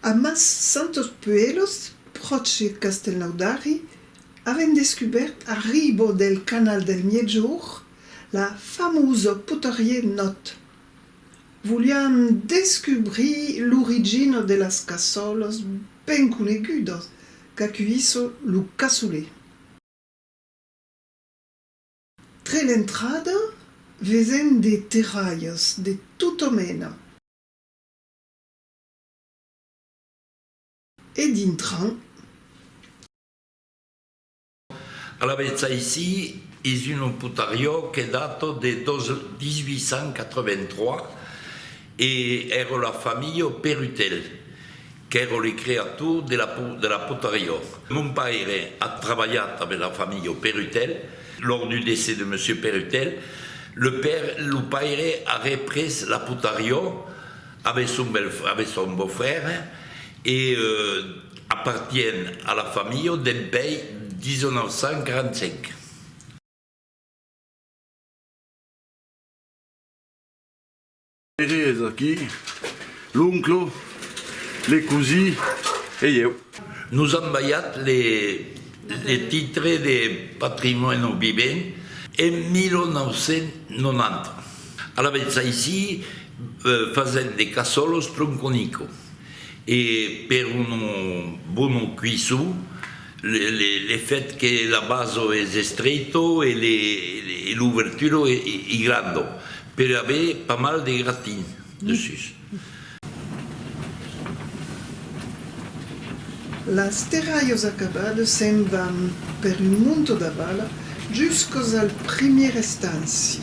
A Mas Santos Puelos, pròche de Castellnaudari, avèm descubèrt a riba del canal del Miègjorn la famosa Potarrier Nòt. Voliam descubrir l'origina de las cassolas ben conegudas qu'acuissa lo cassoler. Tre l'entrada vesen de terralhas de tota mena. E dintran. Alavetz aicí es un loputariò que data de 1883 e èra la familha Perutel. Qu'èro le creator de la por de la potarrior. Mon paire a trabalhat abe la familha Perutel. Lors du decès de monsieur Perutel, le père, lo paire a repres la potarrior abe son bel abe son beau frère e apartien a la familha dempèi 1945. Ere es aquí, l'onclo, le cosí e ieu. Nos an balhat le titre de patrimòni vivent en 1990. Alavetz aicí fasèm de casòlos Tronconico e per un bono cuisson, Le fèt que la baso es estreito e l'ouvertura es granda per aver pas mal de gratin dessús. Las terralhas acabadas se'n van per un monta d'avala juscas al primièr estanci.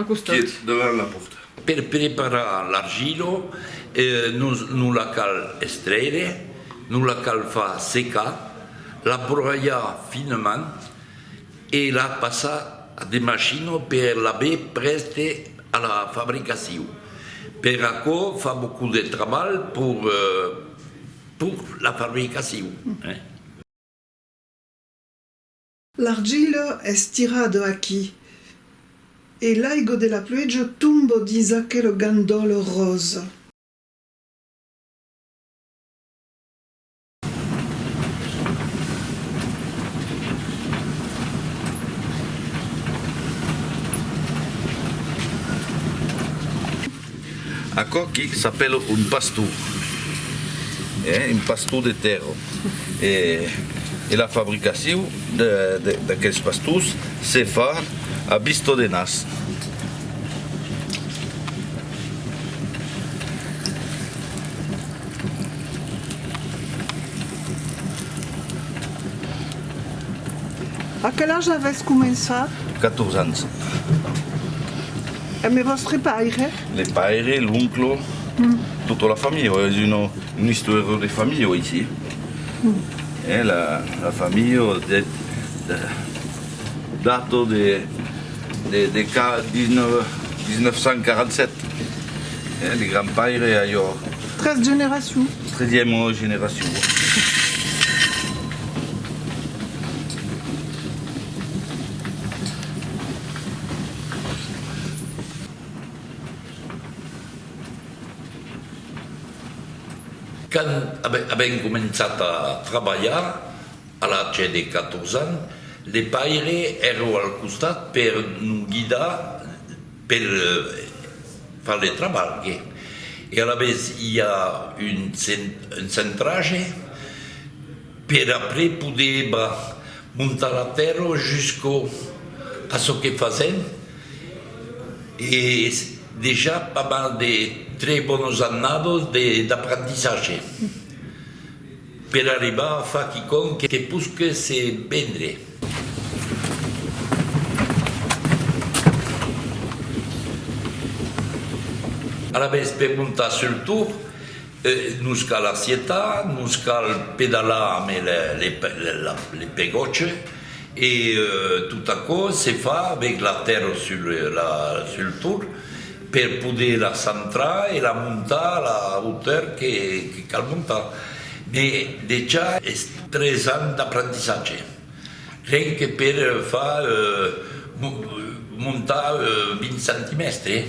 Quiet, davant la pòrta. Per preparar l'argila, non la cal estrèire, non la cal far secar, la broyar finament e la passar a de machinas per l'aver prèste a la fabricacion. Per aquò fa beaucoup de trabalh per la fabricacion. L'argila es tirada aquí e l'aigo de la plueja tombo dins aquela gandòla rosa. Aquò qui s'apèla un pastor, eh, un pastor de tèrra. E, e la fabricacion de, de, d'aqueles pastors se fa a vista de nas. A quel age avètz començat? Quators ans. E me vòstre paire? Le paire, l'onclo, tota la familha, es una istòria de familha aicí. Eh, la familha deth dato de 1947. Eh, le gran paire a jo. Tres generacions. Tresièma generacion. Quand avèm començat a trabalhar, a l'atge de 14 ans, le paire èreu al costat per nos guidar per far le trabalh. E alavetz i a un centratge Per après poder ba montar la fèrro jusqu'au a çò que fasèm e dejà pas mal de tres bonos annados de d'aprentissatge per arribar a far quicòm que posque se vendre. Alavetz per montar sul tour Nos cal acietar, nos cal pedalar amb le pegòche e tot aquò se fa avèc la tèrra sul torn per poder la centrar e la montar a la hauteur que cal montar. Me dejà es tres ans d'aprendissatge, ren que per far montar 20 centimèstres.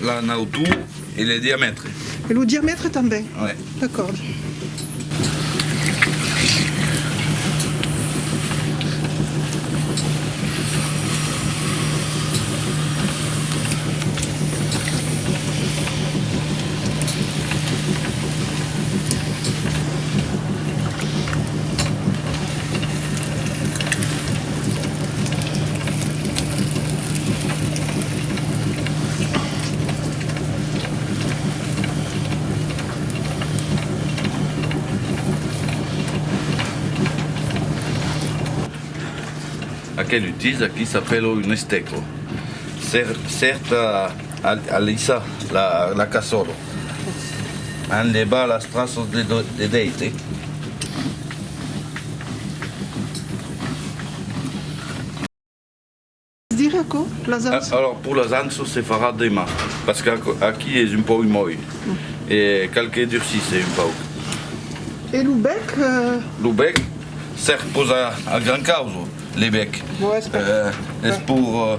La nautor e le diamètre. E lo diamètre tanben? Uèi. D'acòrd. Aquel utís aquí s'apèla un estèco. Cèrta Alissa la casòla. An de balas traços de deite. Alòrs pur las anços se farà deman pas que aqui es un pauc mòll e cal que durcisse un pauc. E lo bèc? Lo bèc sèr posa al gran causo le bèc es pur.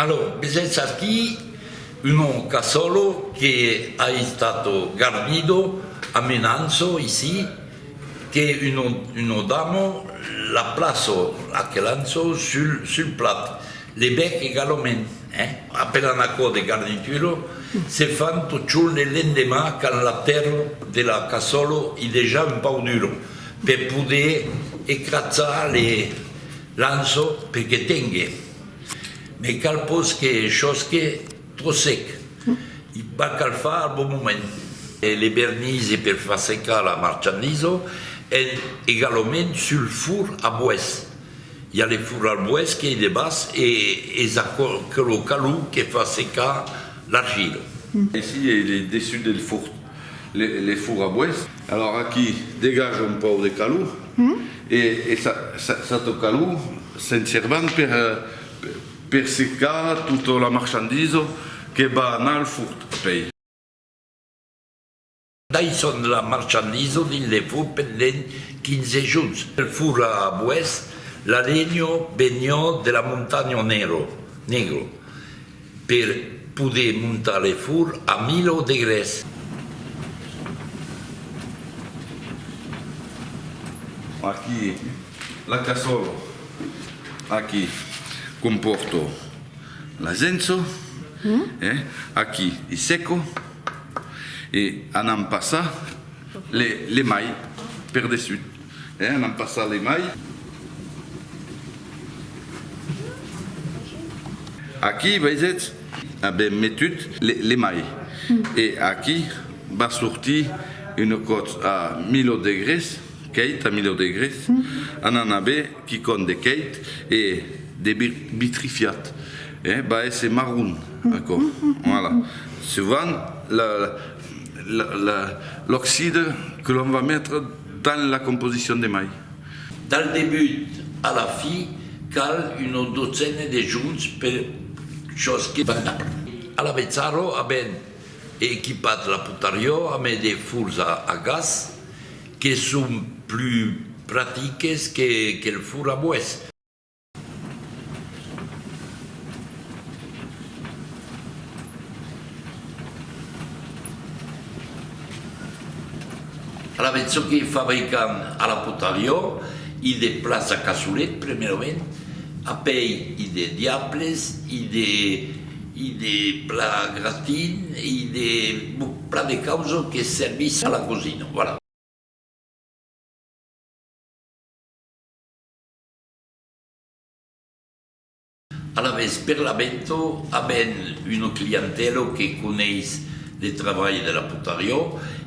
Alò, vesètz aquí un òca sòlo que a estat garnido a menanço ici, que uno damo la plaço a que lanço sul plat, le bèc egalament, eh? Apelan aquò de garnitura, se fan totjorn e l'endemà qu'an la tèrra de la casòlo i dejà un pauc dura, per poder ecratzar le lanço per que tengue. Me cal pos que chosque tro sec, i va cal far al bon moment. Le vernise per far secar la marchandisa en egalament sul fur a boès. I a le fur al boès qu'ei de bas e es aquelo calor que fa secar l'argila. Aicí ei le dessut del fur. les fours à bois. Alors aquí degaja un pauc de calor e s'ato calor se'n servan per secar tota la marchandisa que va anar al furt pei. Daissons la marchandisa dins le furt pendent 15 jorns. Pel four à bois, la lenha veniá de la montanha Negro. Per poder montar le fur a milho de grès. Aquí la cassola. Aquí compòrto l'asenso. Aquí i seco e anam passar le mai per dessut. Eh, anam passar le mai. Aquí, veisètz? Avèm metut le mai. E aquí va sortir una còtz a milho degrés, quèit a milho degrés, anant a ver quicòm de quèit e de vitrifiat. Eh, va èsser marron, aquò. Voilà. Sovant, l'oxide que l'òm va metre. Tant la composicion de mai. Dal debut a la fi cal una dotzena de junts per çòs que van dar. Alavezzaro a ben equipat la putarió ame de furs a gas que son plus pratiques que el fur a boès. Alavetz, çò que fabrican a la Potaliò, i de plats a caçolet, premèument, apèi i de diables, i de i de plats gratins, i de plan de causa que servís a la cosina, voilà. Alavetz, per l'Avento avèm una clientèla que coneis le trabalh de la potariá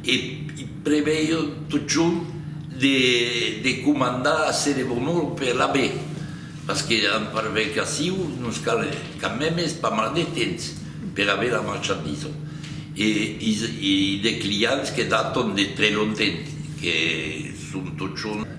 e i preveion totjorn de de comandar assez de bonor per l'Ave, parce que en fabricacion nos cal quand memes pas mal de temps per aver la marchandisa e i i de clients que daton de tre longtemps que son totjorn.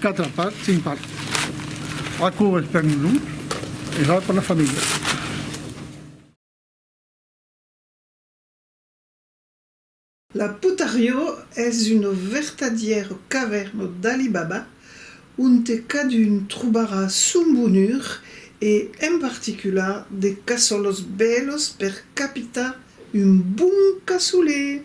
Quatre part, cinc part. Aquò es per nosauts e val per la familha. La Putarió es una vertadièra cavèrna d'Ali Baba onte cadun trobarà son bonur e en particular de casòlos bèlos per capitar un bon casolé!